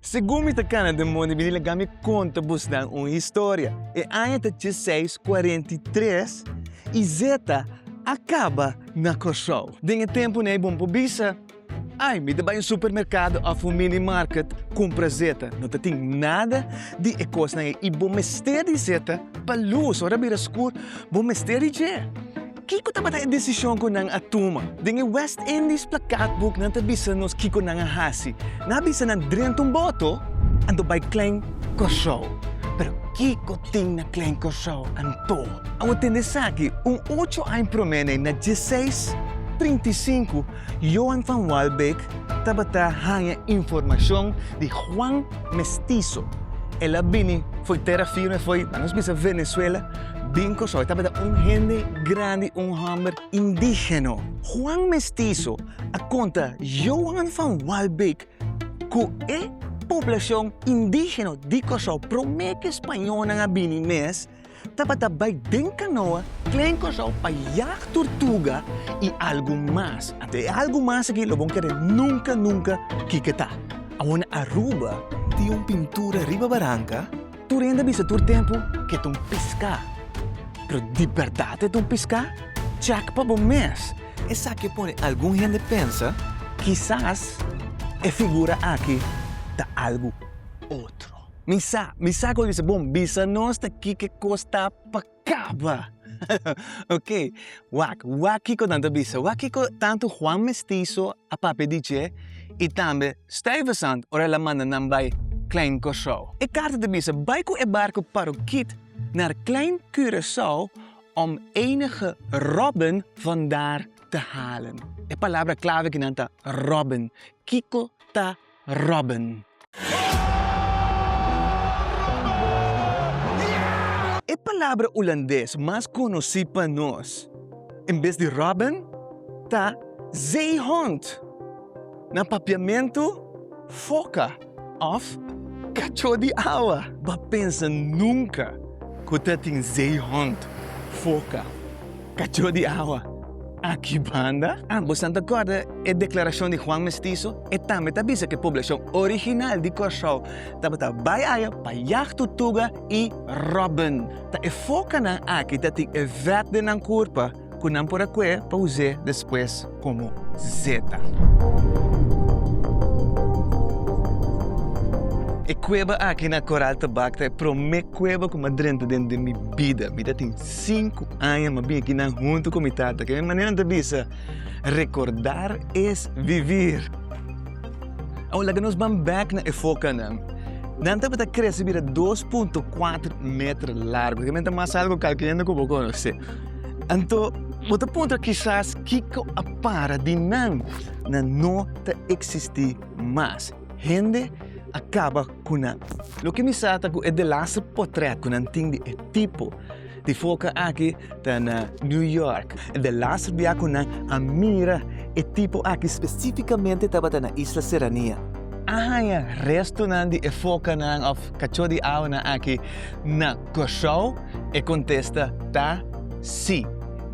Segun mi ta kana den mondi bini laga mi konta busnan un historia. E aña ta djeseis kuarenta i tres i zeta a kaba na Kòrsou. Den e tempunan e bon pa bisa, Ai, mi ta bai un supermerkado òf un mini market kumpra zeta. No tatin nada di e kosnan ei i bo mester di zeta pa lus. Ora a bira skur, bo mester di dje. Kiko tabata e desishon ku nan a tuma? Den e West Indies plakatbuk nan ta bisa nos kiko nan a hasi. Nan a bisa nan drenta un boto anto bai Klein Kòrsou. Pero kiko tin na Klein Kòrsou anto? Awor tende esaki, un ocho aña promé nei na dieseis trinta i sinku, Johan van Waalbeek tabata haña informashon di Juan Mestizo. El a bini fo'i tera firme, fo'i, ta nos bisa Venezuela, bin Kòrsou. E tabata un hende grandi, un hòmber indígeno. Juan Mestizo a konta Johan van Waalbeek ku e poblashon indígeno di Kòrsou promé ku e spañolnan a bini mes, Tabata bai den kanoa klen Kòrsou pa jag turtuga i algu mas. Ante e algu mas aki lo bon kere nunka nunka kiko ta. Awor Aruba tin un pintura riba baranka tur hende a bisa tur tempu ke ta un piská. Pero di bèrdat e ta un piská? Chèk pa bo mes. Esaki a pone algun hende pensa kisas e figura aki ta algu otro. Mi sa, mi sa cu a bisa bon, bisa nos ta kiko cos ta pa caba. ok, wak, wak kiko nan ta bisa, wak kiko tanto Juan Mestizo a papia di dje y tambe Stuyvesant ora el a manda nan bay Klein Corsou. E carta ta bisa, bay cu e barco Paroquit nar Klein Curacao om enige robben van daar te halen. E palabra clave aki nan ta robben. Kiko ta Robin. E palabra Hulandes mas conoci pa nos, en bes di Robin, ta zeehond, na Papiamento, foca of cacho di awa. Bo a pensa nunca cu ta tin zeehond, foca. Cachó di awa, aki banda? Ah, bo esnan ta corda e declaracion di Juan Mestizo? E tambe ta bisa cu e poblacion original di Corsow tabata bay aya pa yag tutuga y robben. Ta e focanan aki ta tin e vet den nan curpa cu nan por a cue pa us'e despues. komo Zeta. E kueba aki na Koral Tabak ta e promé kueba ku mi a drenta den di mi bida. Mi ta tin sinku aña, mi a bini aki nan huntu ku mi tata. Kende manera nan ta bisa, Recordar es vivir. Awo laga nos ban bèk na efokanan. Nan tabata krese bira dos punto kuater meter largu. Kende ta mas algu kalkiendo ku bo konosé. Anto, bo ta puntra kisas kiko a para di nan na no ta eksistí mas. Hende a kaba ku nan. Loke mi sa ta ku e delaster potrèt ku nan tin di e tipo di foka aki ta na New York. E delaster bia ku nan a mira e tipo aki spesífikamente tabata na Isla Serranía. A haña restonan di e fokanan òf kachó di awanan aki na Kòrsou. E kontesta ta sí.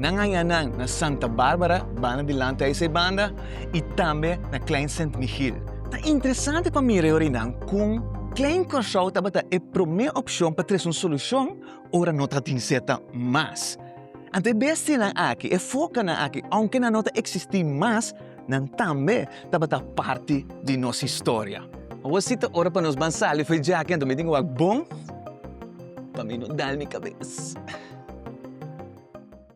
Nan hañanan na Santa Bárbara, banda dilanti Aysay Banda, i tambe na Klein Sint Michiel. Ta interesante pa mira e orinan kon Klein Kòrsou tabata e promé opshon pa tres un solushon ora no ta tin seta mas. Anto e bestianan akí, e fokanan akí, ounke nan no ta eksistí mas, nan tambe tabata parti di nos historia. Awo si ta ora pa nos ban sali for djaki anto mi tin wak bon pa mi no dal mi kabes.